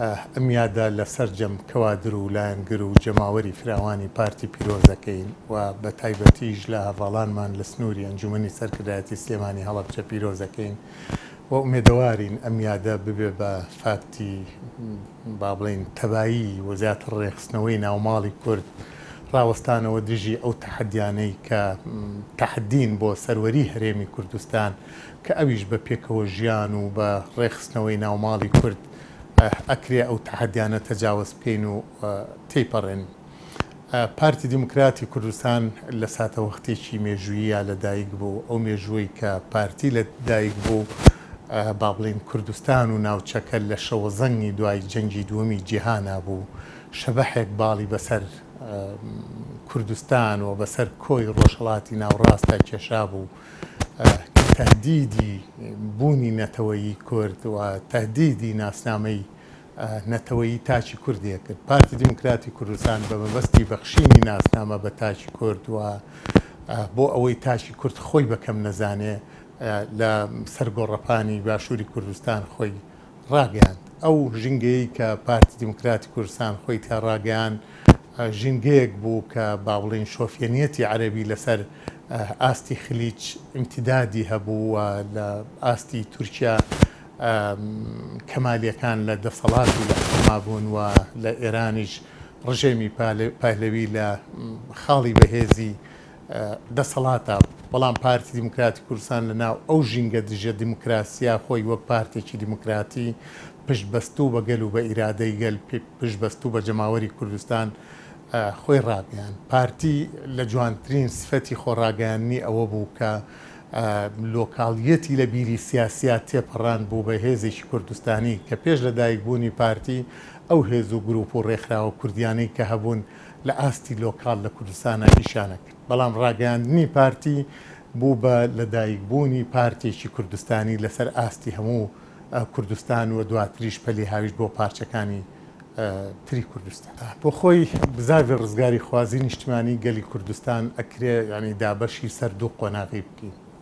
ئه میادە لە سەرجەم کەوادر و لایەنگر و جەماوەری فراوانی پارتی پیرۆز دەکەین و بە تایبەتیش لە هەڤاڵانمان لە سنووری ئەنجومەنی سەرکردایەتی سلێمانی هەڵەبجە پیرۆز دەکەین و ئومێدەوارین ئه میادە ببێ بە فاکتی با بڵێین تەبایی و زیاتر ڕێکخستنەوەی ناوماڵی کورد ڕاوەستانەوە دژی ئەو تەحەدیانەی کە تەحەدین بۆ سەروەری هەرێمی کوردستان کە ئەویش بە پێکەوە ژیان و بە ڕێکخستنەوەی ناو ماڵی کورد ئەکرێ ئەو تەحەدیانە تەجاوەز بکەین و تێیپەڕێنین. پارتی دیموکراتی کوردستان لە ساتەوەختێکی مێژووییا لە دایک بوو، ئەو مێژووەی کە پارتی لە دایک بوو با بڵێین کوردستان و ناوچەکە لە شەوەزەنگی دوای جەنگی دووەمی جیهانا بوو، شەبەحێک باڵی بە سەر کوردستان و بە سەر کۆی ڕۆژهەڵاتی ناوڕاستا کێشابوو. کە تەهدیدی بوونی نەتەوەیی کورد و تەهدیدی ناسنامەی نەتەوەیی تاکی کوردیە کرد. پارتی دیموکراتی کوردستان بە مەبەستی بەخشینی ناسنامە بە تاکی کورد و بۆ ئەوەی تاکی کورد خۆی بە کەم نەزانێ لە سەر گۆڕەپانی باشووری کوردستان خۆی ڕاگەیاند، ئەو ژینگەیەی کە پارتی دیموکراتی کوردستان خۆی تیا ڕاگەیاند ژینگەیەک بوو کە با بڵێین شۆفیەنیەتی عەرەبی لەسەر ئاستی خلیج ئیمتیدادی هەبوو و لە ئاستی تورکیا کەمالیەکان لە دەسەڵات و لە حوکما بوون و لە ئێرانیش ڕژێمی پهلوی لە خاڵی بەهێزی دەسەڵاتە، بەڵام پارتی دیموکراتی کوردستان لە ناو ئەو ژینگە دژە دیموکراسییە خۆی وەک پارتێکی دیموکراتی پشت بەستوو بە گەل و بە ئیرادەی گەل پشت بەستوو بە جەماوەری کوردستان خۆی ڕاگەیاند. پارتی لە جوانترین سفەتی خۆ ڕاگەیاندنی ئەوە بوو کە لۆکاڵییەتی لە بیری سیاسییا تێپەڕاند بوو بە هێزێکی کوردستانی کە پێش لە دایک بوونی پارتی ئەو هێز و گروپ و ڕێکخراوە کوردیانەی کە هەبوون لە ئاستی لۆکاڵ لە کوردستانا ئیشانە کرد، بەڵام ڕاگەیاندنی پارتی بوو بە لە دایک بوونی پارتێکی کوردستانی لە سەر ئاستی هەموو کوردستان و دواتریش پەلی هاویشت بۆ پارچەکانی تری کوردستان. بۆ خۆی بزاڤی ڕزگاری خوازی نیشتیمانی گەلی کوردستان ئەکرێ یانی دابەشی سەر دوو قۆناغی بکەین.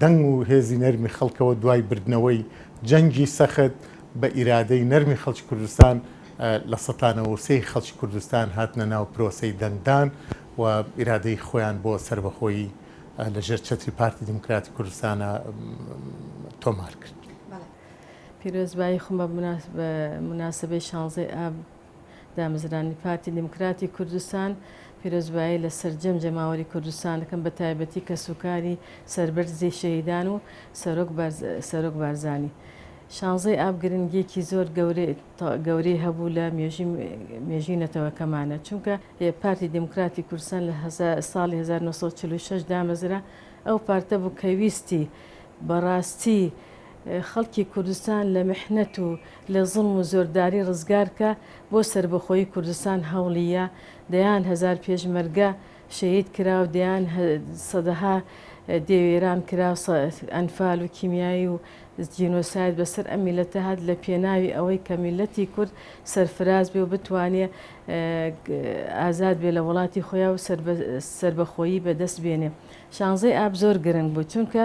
دەنگ و هێزی نەرمی خەڵکەوە دوای بردنەوەی جەنگی سەخت بە ئیرادەی نەرمی خەڵکی کوردستان لە سەتا نەوە و سێ ی خەڵکی کوردستان هاتنە ناو پرۆسەی دەنگدان و ئیرادەی خۆیان بۆ سەربەخۆیی لە ژێر چەتری پارتی دیموکراتی کوردستانا تۆمار کرد. پیرۆزبایی خۆم بە موناسبەی شانزەی ئاب دامەزراندنی پارتی دیموکراتی کوردستان پیرۆزبایی لە سەرجەم جەماوەری کوردستان دەکەم بە تایبەتی کەسوکاری سەربەرزی شەهیدان و سەرۆک بارزانی شانزەی ئاب گرنگیەکی زۆر گەورەی هەبوو لە مێژووی نەتەوەکەمانە چونکە پارتی دیموکراتی کوردستان لە ساڵی هەزار و نۆ سەد و چل و شەش دامەزرا ئەو پارتە بوو کە ویستی بەڕاستی خەڵکی کوردستان لە محنەت و لە زوڵم و زۆرداری ڕزگارکە، بۆ سەربەخۆیی کوردستان هەوڵی یا، دەیان هەزار پێشمەرگە شەهید کرا و دەیان سەدەها دێ وێران کرا و ئەنفال و کیمیایی و جینۆساید بەسەر ئەم میللەتە هات لە پێناوی ئەوەی کە میللەتی کورد سەرفراز بێ و بتوانێ ئازاد بێ لە وڵاتی خۆیا و سەربەخۆیی بە دەست بێنێ شانزەی ئاب زۆر گرنگ بوو چونکە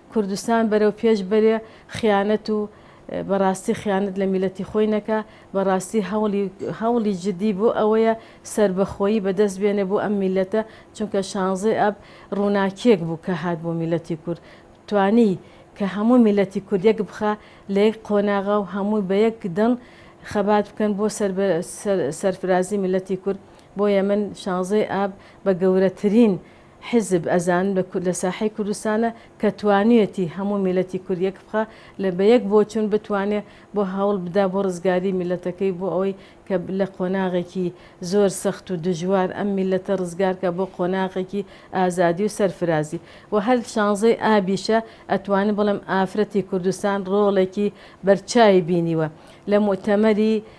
کوردستان بەرەو پێش بەرێ خیانەت و بەڕاستی خیانەت لە میلەتی خۆی نەکا بەڕاستی هەوڵی هەوڵی جدی بۆ ئەوەیە سەربەخۆیی بەدەست بێنێ بۆ ئەم میلەتە چونکە شانزەی ئاب ڕووناکیەک بوو کە هات بۆ میلەتی کورد توانی کە هەموو میلەتی کورد یەک بخا لە یەک قۆناغا و هەموو بە یەک دڵ خەبات بکەن بۆ سەرفرازی میلەتی کورد بۆیە من شانزەی ئاب بە گەورەترین حیزب ئەزان بە کورد لە ساحەی کوردستانە کە توانیوێتی هەموو میلەتی کورد یەک بخا لە بە یەک بۆچوون بتوانێ بۆ هەوڵ بدا بۆ ڕزگاری میلەتەکەی بۆ ئەوەی کە لە قۆناغێکی زۆر سەخت و دژوار ئەم میلەتە ڕزگار کا بۆ قۆناغێکی ئازادی و سەرفرازی و هەر شانزەی ئابیشە ئەتوانم بڵێم ئافرەتی کوردستان ڕۆڵێکی بەرچاوی بینیوە لە موئتەمەری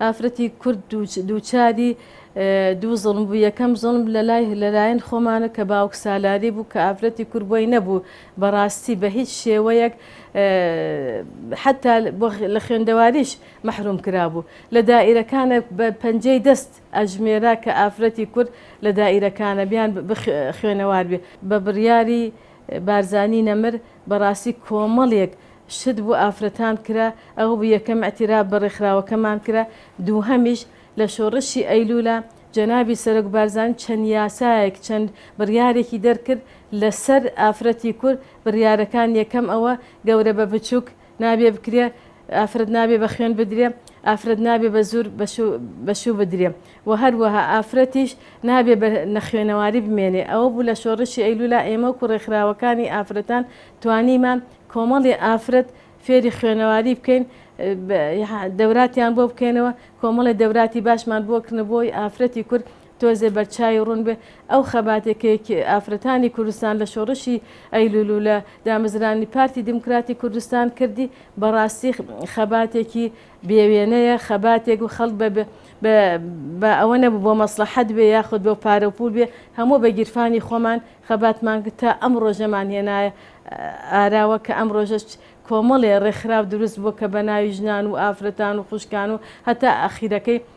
ئافرەتی کورد دووچاری دوو زوڵم بوو، یەکەم زوڵم لەلایەن خۆمانە کە باوکسالاری بوو کە ئافرەتی کورد بۆی نەبوو بەڕاستی بە هیچ شێوەیەک حەتا لە خوێندەواریش مەحروم کرابوو، لە دائیرەکانە بە پەنجەی دەست ئەژمێرا کە ئافرەتی کورد لە دائیرەکانە بیان خوێنەوار بێ بە بڕیاری بارزانی نەمر، بەڕاستی کۆمەڵێک شت بۆ ئافرەتان کرا، ئەوە بوو یەکەم ئیعتیراف بە ڕێکخراوەکەمان کرا، دووهەمیش لە شۆڕشی ئەیلوولا جەنابی سەرۆک بارزانی چەند یاسایەک چەند بڕیارێکی دەرکرد لەسەر ئافرەتی کورد، بڕیارەکان یەکەم ئەوە گەورە بە بچووک نابێ بکرێ ئافرەت نابێ بە خوێن بدرێ ئافرەت نابێ بە زور بە شوو بدرێ و هەروەها ئافرەتیش نابێ بە نەخوێنەواری بمێنێ ئەوە بوو لە شۆڕشی ئەیلولا ئێمە وەکو ڕێکخراوەکانی ئافرەتان توانیمان کۆمەڵی ئافرەت فێری خوێنەواری بکەین دەوراتیان بۆ بکەینەوە کۆمەڵی دەوراتی باشمان بۆ کردنە بۆی ئافرەتی کورد تۆزێ بەرچاوی ڕوون بێ ئەو خەباتەی کە یەکێ ئافرەتانی کوردستان لە شۆڕشی ئەیلول و لە دامەزرانی پارتی دیموکراتی کوردستان کردی بە ڕاستی خەباتێکی بێ وێنەیە، خەباتێک و خەڵک بە بە با ئەوە نەبوو بۆ مەسڵەحەت بێ یاخود بۆ پارە و پوول بێ هەموو بە گیرفانی خۆمان خەباتمان کرد تا ئەم ڕۆژەمان هێنایە ئاراوە کە ئەم ڕۆژەش کۆمەڵێ ڕێکخراو دروست بووە کە بە ناوی ژنان و ئافرەتان و خوشکان و هەتا ئاخیرەکەی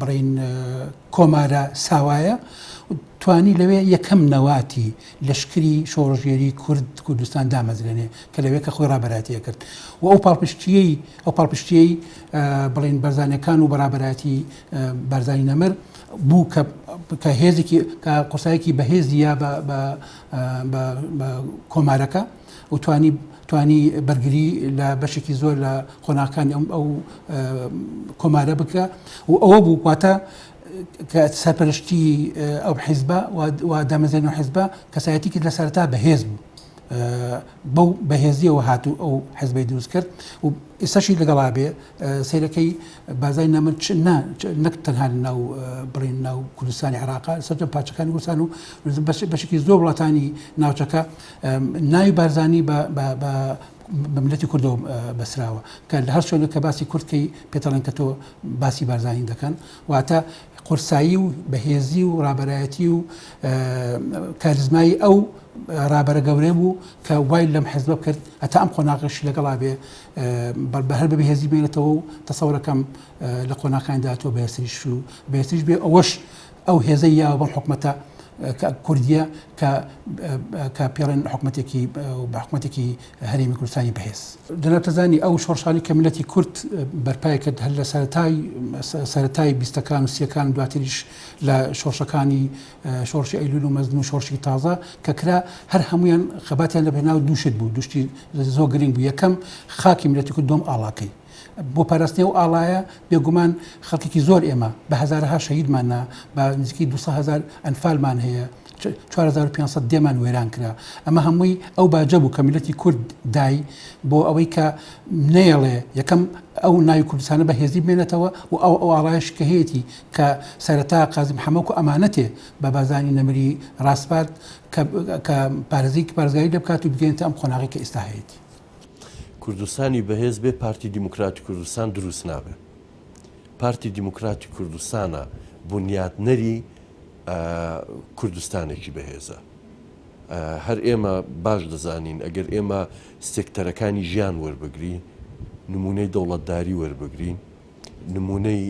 بڵین کۆمارە ساوایە توانی لەوێ یەکەم نەواتی لەشکری شۆڕژێری کورد کوردستان دامەزرێنێ کە لەوێ کە خۆی ڕابەراتیە کرد و ئەو پاڵپشتیەی ئەو پاڵپشتیەی بڵین بەرزانەکان و بەڕابەتی بەرزانی نەمر بوو کە هێزێکی قوسایەکی بەهێزی یا بە کۆمارەکە و توانی توانی بەرگری لە بەشێکی زۆر لە قۆناکانی ئەم ئەو کۆمارە بکە و ئەوە بوو واتە کە سەرپەرشتی ئەو حیزبە و دامەزێن و حیزبە کەسایەتی کرد لە سەرتا بەهێز بوو بەو بەهێزیەوە هاتوو ئەو حزبی دروست کرد و ئێستاشی لەگەڵا بێ سیرەکەی بازای نامن نەک تەنها ناو بڵین ناو کوردستانی عراق سەر پاچەکانی وسان و بەشێکی زۆر وڵاتانی ناوچەکە ناوی بارزانی بە بە بە بە ملەتی کوردەوە بەسراوە کە لە هەر شوێنێک کە باسی کورد کەی پێتەڵێن کە تۆ باسی بارزانین دەکەن واتە قورسایی و بەهێزی و ڕابەرایەتی و کاریزمایی ئەو ڕابەرە گەورەی بوو کە وای لەم حزبە کرد ئەتا ئەم قۆناغش لەگەڵا بێ بە هەر بە بەهێزی بێنێتەوە و تەسەورەکەم لە قۆناکاندا تۆ بەهێستریش و بەهێستریش بێ ئەوەش ئەو هێزەی یاوە بەم حکومەتە کە کوردیە کە کە پێڵێن حکومەتێکی بە حکومەتێکی هەرێمی کوردستانی بەهێز جنابتەزانی ئەو شۆڕشانی کە ملەتی کورد بەرپای کرد هەر لە سەرای سەتای بیستەکان و سیەکان دواتریش لە شۆڕشەکانی شۆڕشی ئەیلول و مەزن و شۆڕشی تازە کە کرا هەر هەمویان خەباتیان لە بەناو دووشت بوو دوشتی زۆ گرنگ بوو یەکەم خاکی ملەتی کورد دوم ئاڵاکەی بۆ پاراستنی ئەو ئاڵایە بێگومان خەڵکێکی زۆر ئێمە بە هەزارەها شەهیدمان نا بە نزیکەی 200 هزار ئەنفالمان هەیە 4500 دێمان وێران کرا ئەمە هەمووی ئەو باجە بوو کە میلەتی کورد دای بۆ ئەوەی کە نەیەڵێ یەکەم ئەو ناوی کوردستانە بە هێزی بمێنێتەوە و ئەو ئەو ئاڵایش کە هەیەی کە سەرەتا قازم حەمەک و ئەمانەتێ بە بازانی نەمری ڕاسپارد کە پارێزیک پارێزگاری لێ بکات و بگەێنێتە ئەم قۆناغی کە ئێستا هەیەی کوردستانی بەهێز بێ پارتی دیموکراتی کوردستان دروست نابێ پارتی دیموکراتی کوردستانە بونیاتنەری کوردستانێکی بەهێزە هەر ئێمە باش دەزانین ئەگەر ئێمە سێکتەرەکانی ژیان وەربگری نمونەی دەوڵەتداری وەربگرین نمونەی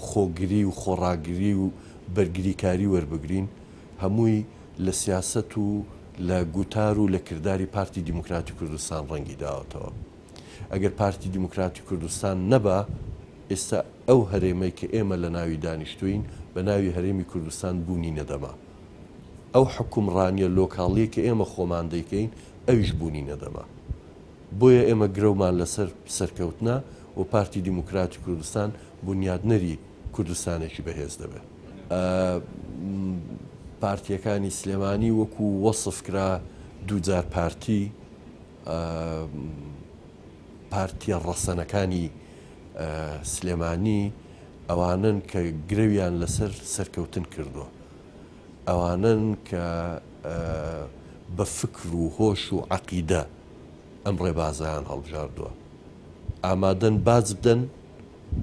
خۆگری و خۆڕاگری و بەرگریکاری وەربگرین هەمووی لە سیاست و لە گوتار و لە کرداری پارتی دیموکراتی کوردستان ڕەنگی داوەتەوە. ئەگەر پارتی دیموکراتی کوردستان نەبا، ئێستا ئەو هەرێمەی کە ئێمە لە ناوی دانیشتووین، بە ناوی هەرێمی کوردستان بوونی نەدەما. ئەو حوکمڕانییە لۆکاڵییە کە ئێمە خۆمان دەیکەین، ئەویش بوونی نەدەما. بۆیە ئێمە گرەومان لەسەر سەرکەوتنە و پارتی دیموکراتی کوردستان بونیادنەری کوردستانێکی بەهێز دەبێ. پارتیەکانی سلێمانی وەکو وەسف کرا دووجار پارتی پارتیە ڕەسەنەکانی سلێمانی ئەوانن کە گرەویان لەسەر سەرکەوتن کردووە ئەوانن کە بە فکر و هۆش و عقیدە ئەم ڕێبازیان هەڵبژاردووە ئامادەن باج بدەن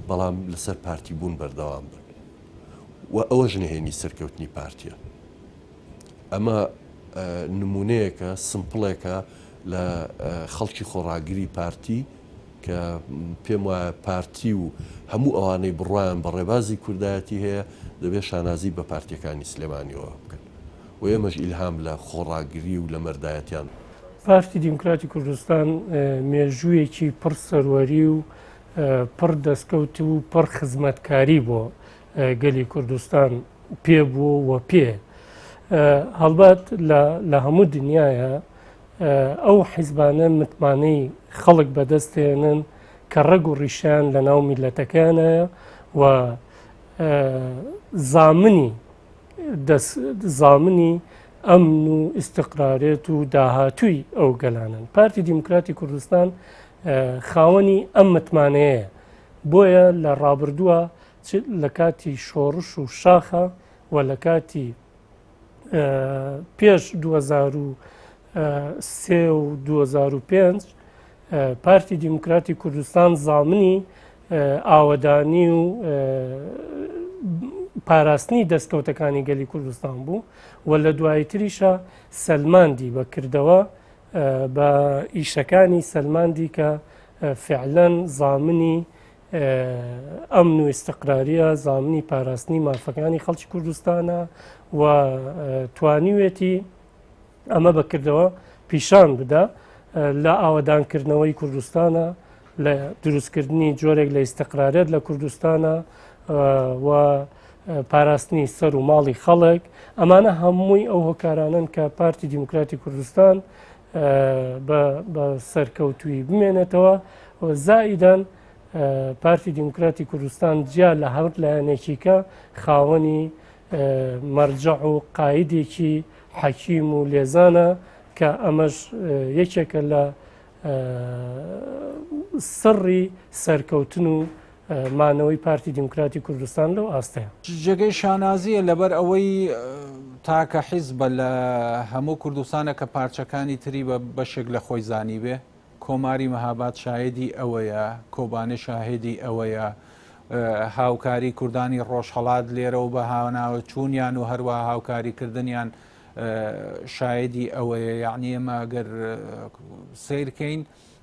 بەڵام لەسەر پارتی بوون بەردەوام بن و ئەوەش نهێنی سەرکەوتنی پارتیە. ئەمە نمونەیەکە سمپڵێکە لە خەڵکی خۆڕاگری پارتی کە پێم وایە پارتی و هەموو ئەوانەی بڕوایان بە ڕێبازی کوردایەتی هەیە دەبێت شانازی بە پارتیەکانی سلێمانیەوە بکەن و ئێمەش ئیلهام لە خۆڕاگری و لە مەردایەتیان پارتی دیموکراتی کوردستان مێژوویەکی پڕ سەروەری و پڕ دەستکەوت و پڕ خزمەتکاری بۆ گەلی کوردستان پێ بوو و پێ هەڵبەت لە هەموو دنیاە ئەو حیزبانە متمانەی خەڵک بەدەستێنن کە ڕەگ و ڕیشیان لە ناو میلەتەکانە و زامنی زامنی ئەمن و ئیسقرارێت و داهاتووی ئەو گەلانن پارتی دیموکراتی کوردستان خاوەنی ئەم متمانەیە بۆیە لە ڕابردووە لە کاتی شۆڕش و شاخە و لە کاتی پێش 2023 و 2005 پارتی دیموکراتی کوردستان زامنی ئاوەدانی و پاراستنی دەستکەوتەکانی گەلی کوردستان بوو و لە دواییتریشە سەلماندی بەکردەوە بە ئیشەکانی سەلماندی کە فعلەن زامنی ئەمن و ئستقراریە زامنی پاراستنی مافەکانی خەڵکی کوردستانە و توانیوێتی ئەمە بەکردەوە پیشان بدا لە ئاوەدانکردنەوەی کوردستانە لە دروستکردنی جۆرێک لە ئستقرارێت لە کوردستانە و پاراستنی سەر و ماڵی خەڵک ئەمانە هەمووی ئەو هۆکارانن کە پارتی دیموکراتی کوردستان بە سەرکەوتوی بمێنێتەوە زائیدان پارتی دیموکراتی کوردستان جیا لە هەور لایەنێکیکە خاوەنی مەرجە و قاعدێکی حەکیم و لێزانە کە ئەمەش یەکێکە لە سڕی سەرکەوتن و مانەوەی پارتی دیموکراتی کوردستان لەو ئاستەیە. جێگەی شانازییە لەبەر ئەوەی تاکە حیزبە لە هەموو کوردستانە کە پارچەکانی تری بە بەشێک لە خۆی زانیبێ، کۆماری مهاباد شاهێدی ئەوەیە، کۆبانێ شاهێدی ئەوەیە، هاوکاری کوردانی ڕۆژهەڵات لێرە و بەهاناوەچوونیان و هەروەها هاوکاریکردنیان شاهێدی ئەوەیە، یەعنی ئێمە ئەگەر سەیرکەین،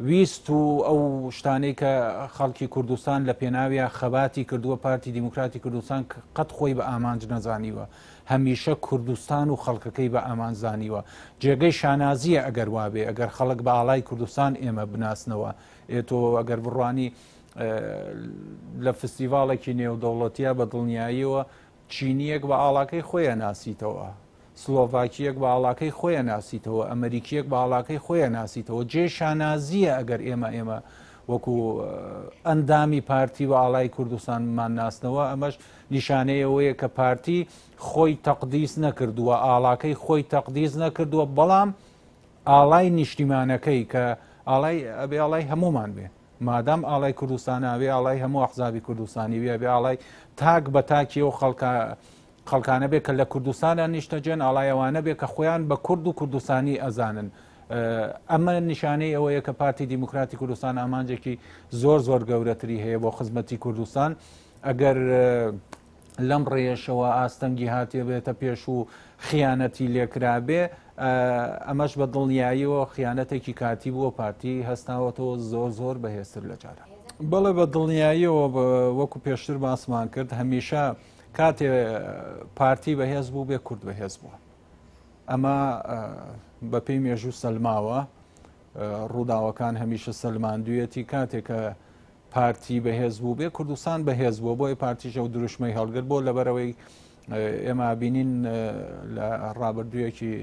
ویست و ئەو شتانەی کە خەڵکی کوردستان لە پێناویا خەباتی کردووە پارتی دیموکراتی کوردستان قەت خۆی بە ئامانج نەزانیوە هەمیشە کوردستان و خەڵکەکەی بە ئامانج زانیوە جێگەی شانازیە ئەگەر وابێ ئەگەر خەڵک بە ئاڵای کوردستان ئێمە بناسنەوە ئێ تۆ ئەگەر بڕوانی لە فستیڤاڵێکی نێودەوڵەتیە بە دڵنیاییەوە چینییەک بە ئاڵاکەی خۆی ئەناسیتەوە، سلۆڤاکییەک بە ئاڵاکەی خۆی ئەناسیتەوە، ئەمەریکییەک بە ئاڵاکەی خۆی ئەناسیتەوە. جێی شانازییە ئەگەر ئێمە ئێمە وەکوو ئەندامی پارتی بە ئاڵای کوردستان بمانناسنەوە، ئەمەش نیشانەی ئەوەیە کە پارتی خۆی تەقدیس نەکردووە، ئاڵاکەی خۆی تەقدیس نەکردووە، بەڵام ئاڵای نیشتیمانەکەی کە ئاڵای ئەبێ ئاڵای هەموومان بێت. مادام ئاڵای کوردستانە ئەبێ ئاڵای هەموو ئەحزابی کوردستانی بێ ئەبێ ئاڵای تاک بە تاکی ئەو خەڵکە خەڵکانە بێ کە لە کوردستانە نیشتەجێن ئاڵای ئەوانە بێ کە خۆیان بە کورد و کوردستانی ئەزانن ئەمە نیشانەی ئەوەیە کە پارتی دیموکراتی کوردستان ئامانجێکی زۆر زۆر گەورەتری هەیە بۆ خزمەتی کوردستان ئەگەر لەم ڕێیەشەوە ئاستەنگی هاتبێتە پێش و خیانەتی لێکرابێ، ئەمەش بە دڵنیاییەوە خیانەتێکی کاتی بووە، پارتی هەستاوەتەوە زۆر زۆر بەهێزتر لە جاران. بەڵێ بە دڵنیاییەوە وەکو پێشتر باسمان کرد هەمیشە کاتێ پارتی بەهێز بوو بێ کورد بەهێز بووە ئەمە بەپێی مێژوو سەلماوە ڕووداوەکان هەمیشە سەلماندویەتی کاتێکە پارتی بەهێز بووبێ کوردستان بەهێز بووە بۆیە پارتیش ئەو دروشمەی هەڵگر بۆ لەبەرەوەی ئێمە بینین لە ڕابردوویەکی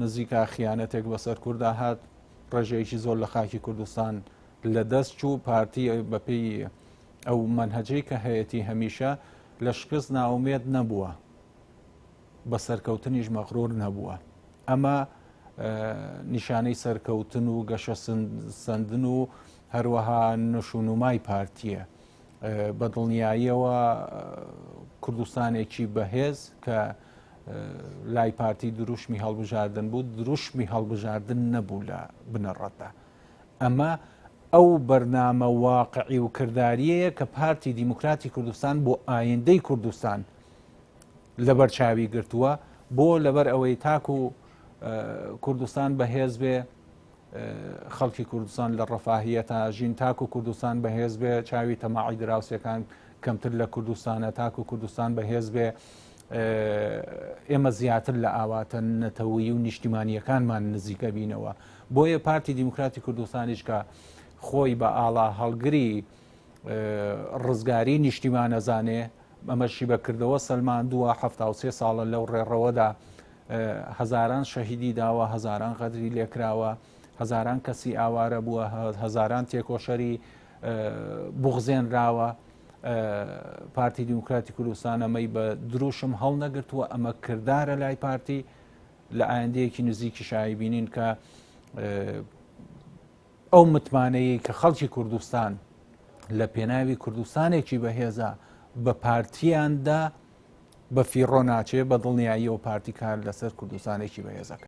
نزیکا خیانەتێک بەسەر کووردا هات ڕێژەیەکی زۆر لە خاکی کوردستان لە دەست چوو پارتی بەپێی ئەو منهجەی کە هەیەی هەمیشە لە شکست ناومێت نەبووە بە سەرکەوتنیش مەغرور نەبووە ئەمە نیشانەی سەرکەوتن و گەشە سندن و هەروەها نشونومای پارتیە بە دڵنیاییەوە کوردستانێکی بەهێز کە لای پارتی دروشمی هەڵبژاردن بوو دروشمی هەڵبژاردن نەبوو لە بنەڕەتدا ئەمە ئەو بەرنامە واقعی و کردداریەیە کە پارتی دیموکراتی کوردستان بۆ ئایندەی کوردستان لەبەر چاوی گرتووە بۆ لەبەر ئەوەی تاکو کوردستان بەهێز بێ خەڵکی کوردستان لە ڕفاهیە تا ژین تاکو کوردستان بەهێز بێ چاوی تەماعی دراوسەکان کەمتر لە کوردستانە تاکو کوردستان بەهێز بێ ئێمە زیاتر لە ئاواتە نەتەوەی و نیشتیمانیەکانمان نزیکە بینەوە بۆیە پارتی دیموکراتی کوردستانیش کە خۆی بە ئاڵا هەڵگری ڕزگاری نیشتیمان ئەزانێ ئەمەشی بەکردەوە سەلماندووە حفتا و سێ ساڵە لەو ڕێڕەوەدا هەزاران شەهیدی داوە هەزاران غەدری لێکراوە هەزاران کەسی ئاوارە بووە هەزاران تێکۆشەری بغزێنراوە پارتی دیموکراتی کوردستان ئەمەی بە دروشم هەڵنەگرتووە ئەمە کردارە لای پارتی لە ئایندەیەکی نزیکی شایبینین کە ئەو متمانەیەی کە خەڵکی کوردستان لە پێناوی کوردستانێکی بەهێزە بە پارتیاندا بە فیڕۆ ناچێ بە دڵنیاییەوە پارتی کار لەسەر کوردستانێکی بەهێزەکە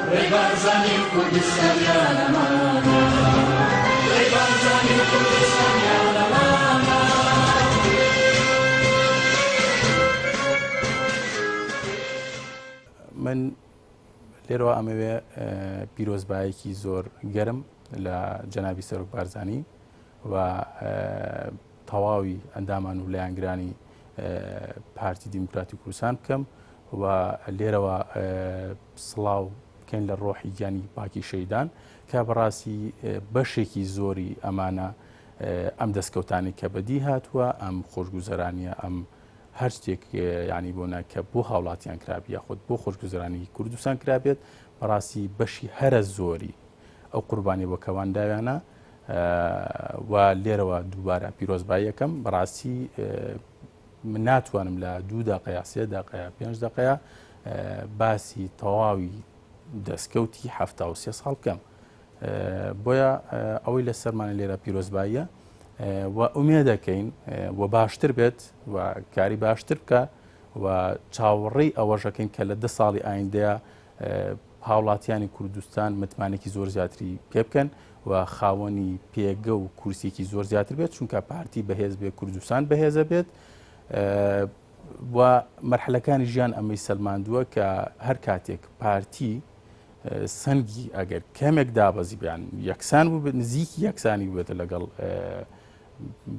ڕێبازانی کوردستانیانە مانا ڕێبازانی کوردستانیانە مانا من لێرەوە ئەمەوێ پیرۆزبایەکی زۆر گەرم لە جەنابی سەرۆک بارزانی و تەواوی ئەندامان و لایەنگرانی پارتی دیموکراتی کوردستان بکەم و لێرەوە سڵاو بکەین لە ڕۆحی گیانی پاکی شەیدان کە بەڕاستی بەشێکی زۆری ئەمانە ئەم دەستکەوتانی کە بەدی هاتووە ئەم خۆشگوزەرانیە ئەم هەر شتێک ینی بۆنە کە بۆ هاوڵاتیان کرابی یاخود بۆ خۆشگوزرانی کوردستان کرابێت بەڕاستی بەشی هەرە زۆری ئەو قوربانی بەکەوان داویانە و لێرەوە دووبارە پیرۆزباییەکەم بەڕاستی من ناتوانم لە دوو دقەیە سێ دقەیە پێنج دقەیە باسی تەواوی دەستکەوتی ه سێ ساڵ بکەم بۆیە ئەوەی لە سەرمانە لێرە پیرۆزباییە و ئومێ دەکەین و باشتر بێت و کاری باشتر بکە و چاوەڕێی ئەوەشەکەین کە لە ده ساڵی ئایندەیە هاوڵاتیانی کوردستان متمانەکی زۆر زیاتری پێ بکەن و خاوەنی پێگە و کورسێکی زۆر زیاتر بێت چونکە پارتی بەهێز بێت کوردستان بەهێزە بێت و مەرحلەکانی ژیان ئەمەی سەلماندووە کە هەر کاتێک پارتی سنگی ئەگەر کەمێک دابەزی بیان یەکسان بوو نزیکی یەکسانی بێتە لەگەڵ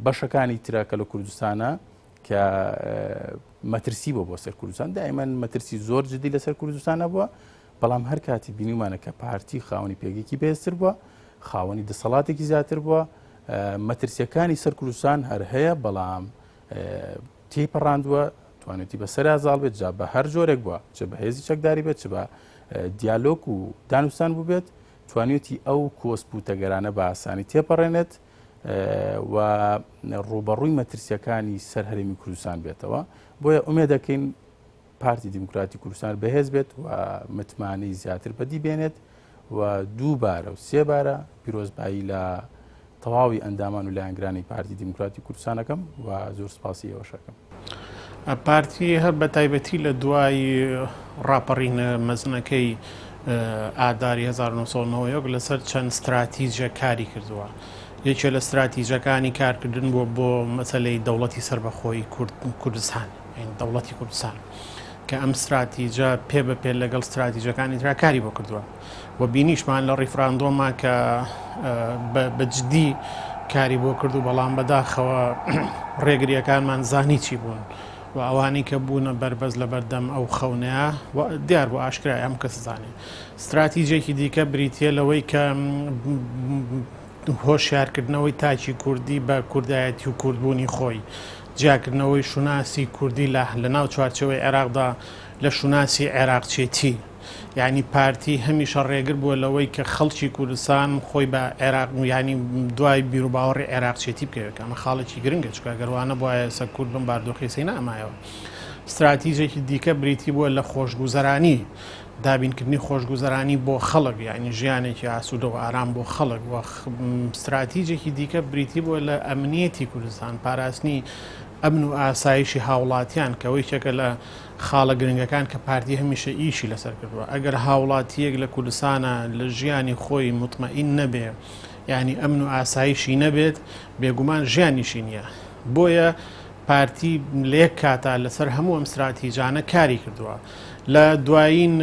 بەشەکانی ترا کە لە کوردستانە کە مەترسی بۆ بۆ سەر کوردستان دائیمەن مەترسی زۆر جدی لەسەر کوردستانە بووە بەڵام هەر کاتی بینیمانە کە پارتی خاوەنی پێگەیەکی بێزتر بووە خاوەنی دەسەڵاتێکی زیاتر بووە مەترسیەکانی سەر کوردستان هەر هەیە بەڵام تێی پەڕاندووە توانێتی بە سەر زاڵ بێت جا بە هەر جۆرێک بووە چ بە هێزی چەکداری بێت چ بە دیالۆک و دانوستان بووبێت توانێتی ئەو کۆسپ و تەگەرانە بە ئاسانی تێپەڕێنێت و ڕووبەڕووی مەترسیەکانی سەر هەرێمی کوردستان بێتەوە بۆیە ئومێ دەکەین پارتی دیموکراتی کوردستان بەهێز بێت و متمانەی زیاتر بەدی بێنێت و دووبارە و سێبارە پیرۆزبایی لە تەواوی ئەندامان و لایەنگرانی پارتی دیموکراتی کوردستانەکەم و زۆر سپاسی ئێوەشەکەم. پارتی هەر بە تایبەتی لە دوای ڕاپەڕینە مەزنەکەی ئاداری 1990 لەسەر چەند ستراتیژە کاری کردووە یەکێ لە ستراتیژەکانی کارکردن بووە بۆ مەسلەی دەوڵەتی سربەخۆی کوردستان دەوڵەتی کوردستان کە ئەم ستراتیژە پێ بە پێ لەگەڵ ستراتیژەکانی تراکاری بۆ کردووە. و بینیشمان لە ڕیفراندۆما کە بە جدی کاری بۆ کرد و بەڵام بەداخەوە ڕێگریەکانمان زانی چی بوون و ئەوانی کە بوونە بەربەز لە بەردەم ئەو خەونەیە دیار بۆ ئاشکرای ئەم کەس زانێ استراتیجێکی دیکە بریتە لەوەی کە هۆشیارکردنەوەی تاکی کوردی بە کوردایەتی و کوردبوونی خۆی جیاکردنەوەی شوناسی کوردی لە لە ناو چوارچەوەی عێراقدا لە شوناسی عێراقچێتی یانی پارتی هەمیشە ڕێگر بووە لەوەی کە خەڵکی کوردستان خۆی بە عێراق یانی دوای بیروباوەڕی عێراقچێتی بکەوێت ئەمە خاڵێکی گرنگە چکە گەروانە بواە سە کورد بم باردۆخی سی نامایەوە استراتیژێکی دیکە بریتی بووە لە خۆشگوزەرانی دابینکردنی خۆشگوزەرانی بۆ خەڵک یعنی ژیانێکی ئاسوودە و ئارام بۆ خەڵک و استراتیژێکی دیکە بریتی بووە لە ئەمنیەتی کوردستان پاراستنی ئەمن و ئاسایشی هاوڵاتیان کەەوەی چەکە لە خاڵە گرنگەکان کە پارتی هەمیشە ئیشی لەسەر کردووە، ئەگەر هاوڵاتییەک لە کوردستانا لە ژیانی خۆی موتمەئین نەبێ، یانی ئەمن و ئاسایشی نەبێت، بێگومان ژیانیشی نییە. بۆیە پارتی لە یەک کاتا لەسەر هەموو ئەم ستراتیجانە کاری کردووە. لە دوایین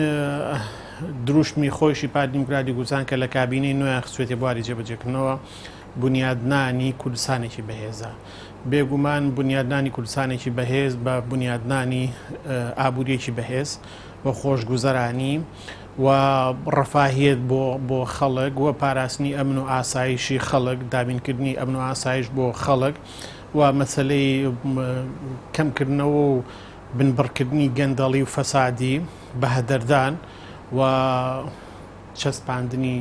دروشمی خۆیشی پارتی دیموکراتی کوردستان کە لە کابینەی نۆیان خستوویەتە بواری جێبەجێکردنەوە، بونیادنانی کوردستانێکی بەهێزە. بێگومان بونیادنانی کوردستانێکی بەهێز بە بونیادنانی ئابووریەکی بەهێز و خۆشگوزەرانی و ڕەفاهیەت بۆ بۆ خەڵک و پاراستنی ئەمن و ئاسایشی خەڵک دابینکردنی ئەمن و ئاسایش بۆ خەڵک و مەسلەی کەمکردنەوە و بنبڕکردنی گەندەڵی و فەسادی بەهەدەردان و چەسپاندنی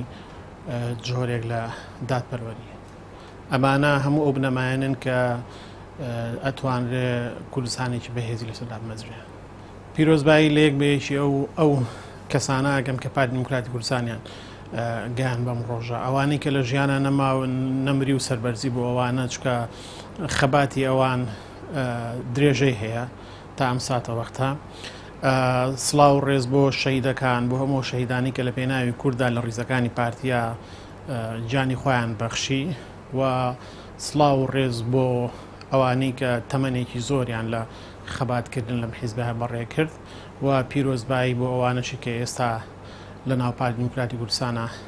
جۆرێک لە دادپەروەرییە. ئەمانە هەموو ئەو بنەمایانەن کە ئەتوانرێ کوردستانێکی بەهێزی لەسەر دابمەزرێ. پیرۆزبایی لە یەک بە یەکی ئەو ئەو کەسانە ئەکەم کە پارتی دیموکراتی کوردستانیان گەیاند بەم ڕۆژە. ئەوانەی کە لە ژیانا نەماون، نەمری و سەربەرزی بۆ ئەوانە، چونکە خەباتی ئەوان درێژەی هەیە تا ئەم ساتەوەختە. سڵاو ڕێز بۆ شەهیدەکان بۆ هەموو شەهیدانی کە لە پێناوی کورددا لە ڕیزەکانی پارتیا جانی خۆیان بەخشی و سڵاو ڕێز بۆ ئەوانەی کە تەمەنێکی زۆریان لە خەباتکردن لەم حیزبە بەڕێ کرد و پیرۆزبایی بۆ ئەوانەشی کە ئێستا لە ناو پارتی دیموکراتی کوردستانە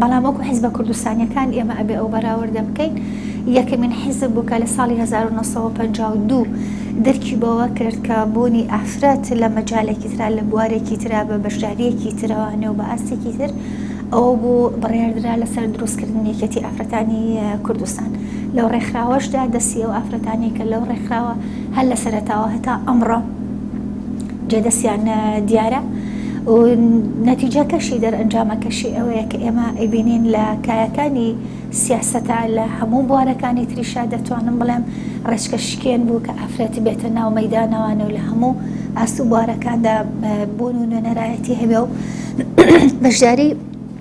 بەڵام وەکو حیزبە کوردستانیەکان ئێمە ئەبێ ئەو بەراوردە بکەین یەکەمین حیزب بوو کە لە ساڵی 1952 دەرکی بەوە کرد کە بوونی ئافرەت لە مەجالێکی تررا لە بوارێکی تررا بە بەشداریەکی ترەوانێ و بە ئاستێکی تر ئەوە بوو بڕێردرا لەسەر دروستکردن یەکێتی ئافرەتانی کوردستان لەو ڕێکخراوەشدا دەستی ئەو ئافرەتانی کە لەو ڕێکخراوە هەر لە سەرتاوە هەتا ئەمڕۆ جێ دەستیان دیارە و نەتیجەکەشی دەرئەنجامەکەشی ئەوەیە کە ئێمە ئەبینین لە کایەکانی سیاسەتا لە هەموو بوارەکانی تریشا دەتوانم بڵێم ڕێچکە شکێن بوو کە ئافرەتی بێتە ناو مەدانەوانە و لە هەموو ئاست و بوارەکاندا بوون و نوێنەرایەتی هەبێ و بەشداری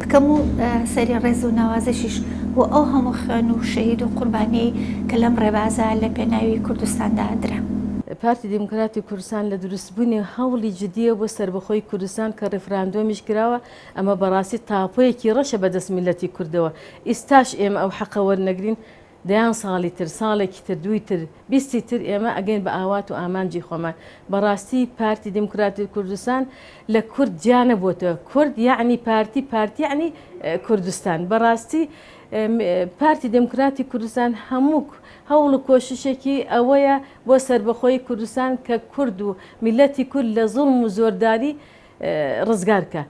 بکەم و سەری ڕێز و ناوازشیش بۆ ئەو هەموو خوێن و شەهید و قوربانیەی کە لەم ڕێبازە لە پێناوی کوردستاندا درا. پارتی دیموکراتی کوردستان لە دروستبوونی هەوڵی جدییە بۆ سەربەخۆیی کوردستان کە ڕیفراندۆمیش کراوە، ئەمە بەڕاستی تاپۆیەکی ڕەشە بەدەست میللەتی کوردەوە، ئیستاش ئێمە ئەو حەقە وەرنەگرین، دەیان ساڵی تر ساڵێکی تر دووی تر بیستی تر ئێمە ئەگەین بە ئاوات و ئامانجی خۆمان بەڕاستی پارتی دیموکراتی کوردستان لە کورد جیا نەبۆتە کورد یەعنی پارتی پارتی یەعنی کوردستان بەڕاستی پارتی دیموکراتی کوردستان هەمووک هەوڵ و کۆششێکی ئەوەیە بۆ سربەخۆی کوردستان کە کورد و میلەتی کورد لە زوڵم و زۆرداری ڕزگارکە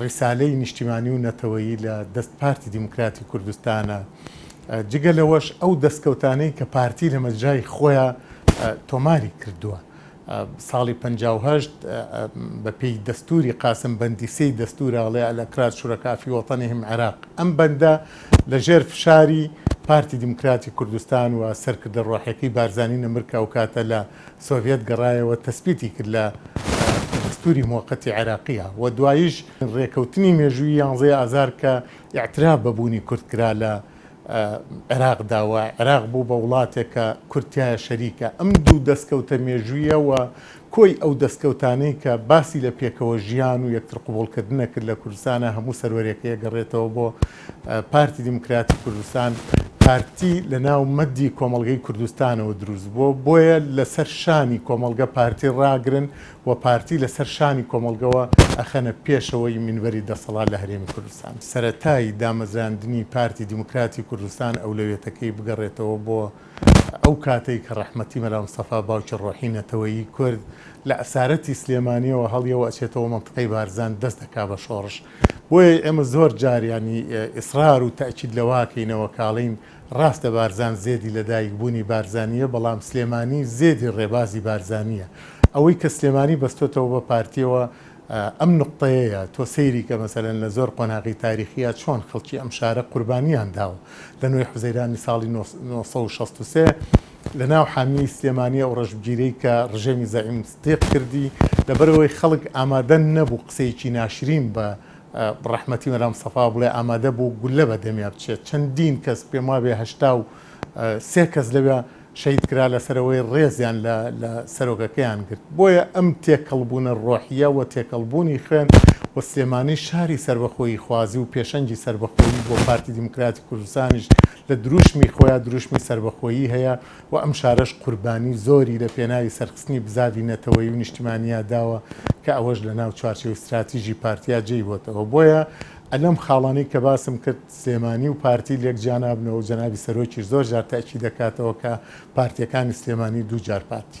ڕیسالەی نیشتیمانی و نەتەوەیی لە دەست پارتی دیموکراتی کوردستانە، جگە لەوەش ئەو دەستکەوتانەی کە پارتی لە مەجرای خۆیا تۆماری کردووە ساڵی پەنجا و هەشت بە پێی دەستوری قاسم بەندی سێی دەستورە ئەڵێ الاکراد شرکاء فی وطنهم عراق ئەم بەندە لە ژێر فشاری پارتی دیموکراتی کوردستان و سەرکردە ڕۆحیەکەی بارزانی نەمرکە ئەوکاتە لە سۆڤیەت گەڕایەوە تەسبیتی کرد لە دەستووری موەقەتی عێراقییا و دواییش رێکەوتنی مێژوویی یانزەی ئازار کە ئیعتراف بە بوونی کورد کرا لە عێراقدا و عێراق بوو بە وڵاتێک کە کورد تیایا شەریکە ئەم دوو دەسکەوتە مێژوویە و کۆی ئەو دەسکەوتانەی کە باسی لە پێکەوە ژیان و یەکتر قبوڵکردنە کرد لە کوردستانا هەموو سەروەرێکەی ئەگەڕێتەوە بۆ پارتی دیموکراتی کوردستان پارتی لە ناو مەدی کۆمەڵگەی کوردستانەوە دروست بووە، بۆیە لە سەر شانی کۆمەڵگە پارتی ڕاگرن و پارتی لە سەر شانی کۆمەڵگەوە ئەخەنە پێشەوەی مینبەری دەسەڵات لە هەرێمی کوردستان. سەرەتای دامەزراندنی پارتی دیموکراتی کوردستان ئەولەویەتەکەی بگەڕێتەوە بۆ ئەو کاتەی کە ڕەحمەتی مەلا مستەفا باوکی ڕۆحی نەتەوەیی کورد لە ئەسارەتی سلێمانیەوە هەڵیەوە ئەچێتەوە مەنتقەی بارزان دەست دەکا بە شۆڕش بۆیە ئێمە زۆر جار یانی ئیسرار و تەئکید لەوە ئەکەینەوە کاڵین ڕاستە بارزان زێدی لە دایک بوونی بارزانیە بەڵام سلێمانی زێدی ڕێبازی بارزانیە ئەوەی کە سلێمانی بەستۆتەوە بە پارتیەوە ئەم نوقتەیەیە تۆ سەیری کە مەسەلەن لە زۆر قۆناغی تاریخیا چۆن خەڵکی ئەم شارە قوربانیان داوە لە نۆی حوزەیرانی ساڵی نۆ سەد و شەست و سێ لە ناو حامیەی سلێمانی ئەو ڕەشبگیرەی کە ڕژێمی زەعیم ستیق کردی لەبەر ئەوەی خەڵک ئامادە نەبوو قسەیەکی ناشرین بە ڕەحمەتی مەلا سەفا بڵێ ئامادە بوو گوللە بە دەمیا بچێت چەندین کەس پێم وابێ هەشتا و سێ کەس لەوێ شەید کرا لەسەرەوەی ڕێزیان لە لە سەرۆکەکەیان گرت بۆیە ئەم تێکەڵبوونە ڕۆحیە و تێکەڵبوونی خوێن و سلێمانی شاری سەربەخۆیی خوازی و پێشەنگی سەربەخۆیی بۆ پارتی دیموکراتی کوردستانیش لە دروشمی خۆیا دروشمی سەربەخۆیی هەیە و ئەم شارەش قوربانی زۆری لە پێناوی سەرخستنی بزاڤی نەتەوەیی و نیشتیمانییا داوە کە ئەوەش لە ناو چوارچێوەی ستراتیژی پارتیا جێی هۆتەوە بۆیە ئەلەم خاڵانەی کە باسم کرد سلێمانی و پارتی لێک جیا نابنەوە و جەنابی سەرۆکیش زۆر جار تەئکیدەکاتەوە کە پارتیەکانی سلێمانی دوو جار پارتی